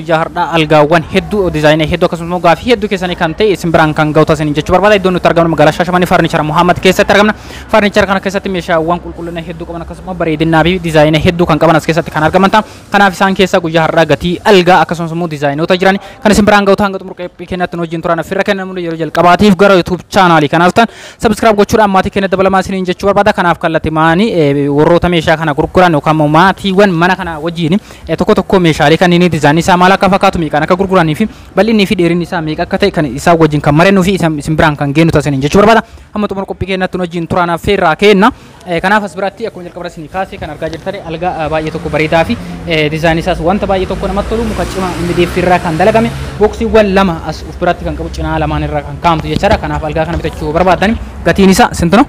Guyyaa har'aa algaawwan hedduu dizaayinii hedduu akkasumas immoo gaafii hedduu keessanii kan ta'e isin biraan kan ga'u taasisan jechuu barbaada. Iddoon nuti argamnu magaalaa Shaashamanii Farnichara Muhammad keessatti argamna. Farnichara kana keessatti meeshaawwan qulqullina hedduu qaban akkasumas bareedinaa fi dizaayina hedduu kan qaban as keessatti kan argaman ta'a. Kanaaf isaan keessaa guyyaa har'aa gatii algaa akkasumas immoo dizaayinoota jiran kan isin biraan ga'u ta'an gaxumur qeephii kennatti nu wajjin turan affirra kennamu yeroo jalqabaatiif gara YouTube chaanaalii kanaaf ta'an subscribe gochuudhaan maatii keenya dabalamaa isiniin jechuu barbaada. Kanaaf kallattimaanii warroota meeshaa kana gurguran yookaan immoo maatiiwwan mana kana wajjin Tokkoo tokkoo meeshaalee kanniinii dizaayinii isaa maal akka fakkaatu, meeqaan akka gurguranii fi bal'innii fi dheerinni isaa meeqa akka ta'e kan isaan wajjin kan marennuu fi isa isin biraan kan geennu ta'a isiniin jechuu barbaada. Hamma xumura qophii keenyaatti nu wajjin turaa naaf feerraa keenna. Kanaaf as biratti akkuma jalqaba irra isinii kaase kan argaa jirtan algaa baay'ee tokko bareedaa fi dizaayinii isaas wanta baay'ee tokko namatti tolu muka cimaa MDF irraa kan dalagame booksiiwwan lama as of biratti kan qabu cinaa lamaan irraa kan kaa'amtu jechaadha. Kanaaf algaa kana bitachuu barbaaddan gatiin isaa sintu no?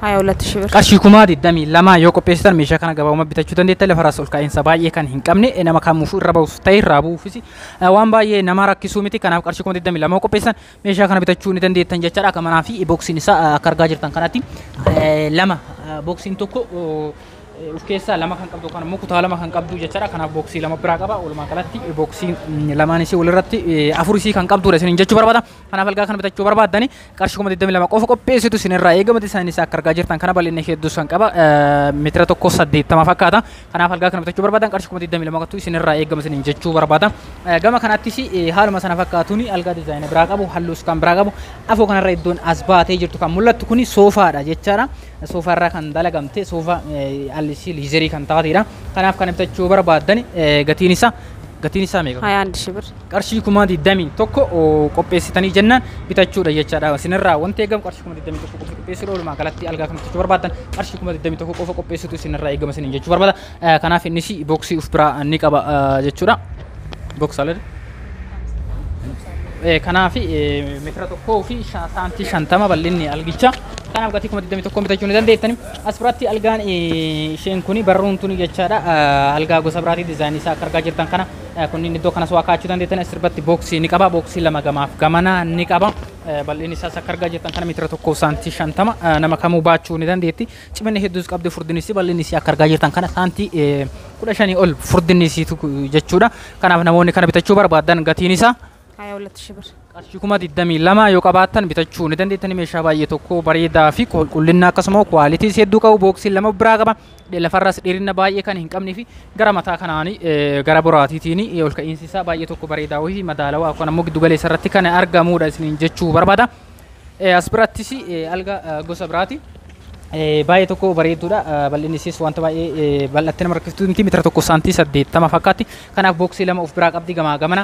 Haya olatti shibir. Qarshii kumaa 22 yoo qopheessitan meeshaa kana gabaabumatti bitachuu dandeettan lafarraas ol ka'iinsa baay'ee kan hin qabne eh, nama kamuufuu irra ba'uuf ta'e irraa bu'uufis eh, waan baay'ee nama rakkisuu miti kanaaf qarshii kuma 22 yoo qopheessitan meeshaa kana bitachuu ni dandeettan jechaadha akka manaa fi boksiin isaa eh, akka argaa jirtan kanatti eh, lama eh, boksiin tokko oh, eh, of keessaa lama kan qabdu kan immoo kutaa lama kan qabdu jechaadha kanaaf boksii lama biraa qaba walumaa galatti eh, boksiin mm, lamaan isii walirratti eh, afur isii kan qabdudha isiniin jechuu barbaada Kanaaf algaa kana bitachuu barbaaddani qarshii kuma 22 qofa qopheessitu isinirraa eegama disaayinii isaa akka argaa jirtan kana bal'inni ishee hedduu san qaba meetira tokko 80 fakkaata kanaaf algaa kana bitachuu barbaadan qarshii kuma 22 qofatu isinirraa eegama isiniin jechuu barbaada gama kanaattis haaluma sana fakkaatuun algaa disaayina biraa qabu halluus kan biraa qabu afoo kanarra iddoon as baatee jirtu kan mul'attu kun soofaadha jechaadha soofaarraa kan dalagamte soofaa allisii liizerii kan taateedha kanaaf kana bitachuu barbaadan gatiin isaa gatiin isaa meeqa? 21 ሺህ ብር qarshii kumaa 21 qopheessitanii jennaan bitachuudha jechaadha. Isinirraa wanti eegamu qarshii kumaa 21 qofa qopheessuudha. Walumaa galatti algaa kan bitachuu barbaaddan qarshii kumaa 21 qofa qopheessuutu isinirraa eegama isiniin jechuu barbaada. Kanaaf innis booksii of biraa ni qaba jechuudha. Booksaala. Kanaaf meetira tokkoo fi saantii shantama bal'inni algicha. Kanaaf gatii kuma 21 bitachuu ni dandeettani. As biratti algaan isheen kun barruun tuni jechaadha. Algaa gosa biraati dizaayinii isaa akka argaa jirtan kana. Kunniin iddoo kanas waa kaa'achuu dandeettan asirbatti booksii ni qaba. Booksii lama gamaaf gamanaa ni qaba. Bal'inni isaas akka argaa jirtan kana meetira tokkoo saantii shantama nama kamuu baachuu ni dandeetti. Ciminni hedduus qabdi furdinni isii bal'inni isii akka argaa jirtan kana saantii kudha shanii ol furdinni isiitu jechuudha. Kanaaf namoonni kana bitachuu barbaadan gatiin isaa ሀያ ሁለት ሺህ ብር qarshii kuma 22 yoo qabaattan bitachuu ni dandeettani meeshaa baay'ee tokko bareedaa fi qulqullina akkasuma kwaalitii hedduu qabu booksiin lama biraa qaba lafarras dheerina baay'ee kan hin qabnee fi gara mataa kanaanii gara boraatiitiin ol ka'iinsi isaa baay'ee tokko bareedaa wayii madaalawaa akkuma ammoo giddu galeessa irratti kan argamuudha isiniin jechuu barbaada as birattis alga gosa biraati baay'ee tokko bareedduudha bal'inni isiis wanta baay'ee bal'attee nama rakkiftuu miti meetira tokko saantii saddeettama fakkaatti kanaaf booksii lama of biraa qabdi gamaa gamana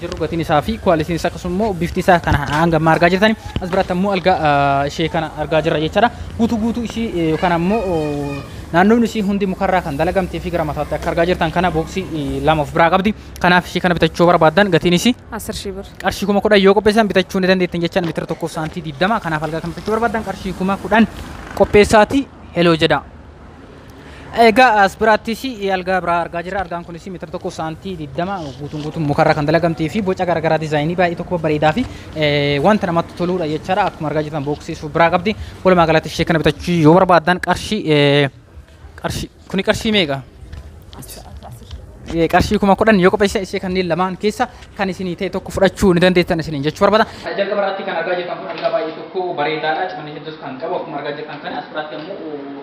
jirru gatiin isaa fi kuwaalitiin isaa akkasuma immoo bifti isaa kana hanga ammaa argaa jirtani as biratti ammoo algaa ah, ishee kana argaa jirra jechaadha guutuu guutuu ishii eh, yookaan ammoo oh, naannoon ishii hundi mukarraa kan dalagamtee fi gara mataatti akka argaa jirtan kana booksii eh, lama of biraa qabdi kanaaf ishii kana bitachuu barbaaddan gatiin ishii Asir shii bir. qarshii kuma kudhan yoo qopheessan bitachuu ni dandeettan jechaan meetira tokkoof saantii digdama kanaaf algaa kan bitachuu barbaaddan qarshii kuma kudhan qopheessaati heloo jedha Egaa as biraattis algaa biraa argaa jirra. Algaan kunis meetira tokko saantii 20 guutuun guutuun mukarraa kan dalagamtee fi boca garaagaraa dizaayinii baay'ee tokko bareedaa fi wanta namatti toluudha jechaadha. Akkuma argaa jirtan booksii biraa qabdi. Walumaa galatti ishee kana bitachuu yoo barbaaddan qarshii qarshii kuni qarshii meeqa? qarshii kuma kudhan yoo qopheessan ishee kanneen lamaan keessa kan isinii ta'e tokko fudhachuu ni dandeettan isiniin jechuu barbaada. Jalqaba irratti kan argaa jirtan kun algaa baay'ee tokko bareedaadha. Cimanni hedduus kan qabu akkuma argaa jirtan kana as biraatti ammoo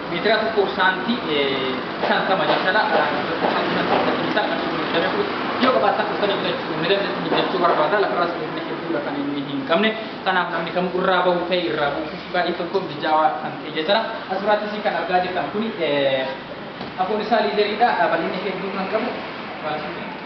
Meetira tokkoof saantii 50 jechaadha. Saantii 50 jechuun isaa kan inni hojjetame kun yoo qabaatan dhuftanii bitachuu ni dandeessu ni bitachuu barbaada lafarraa sirriitti hedduudha kan inni hin qabne kanaaf namni kamuu irraa bahu ta'e irraa buufus baay'ee tokko mijaawaa kan ta'e jechaadha. Asirraattis kan argaa jirtan kun afoon isaa liizariidha bal'inni hedduu kan qabu.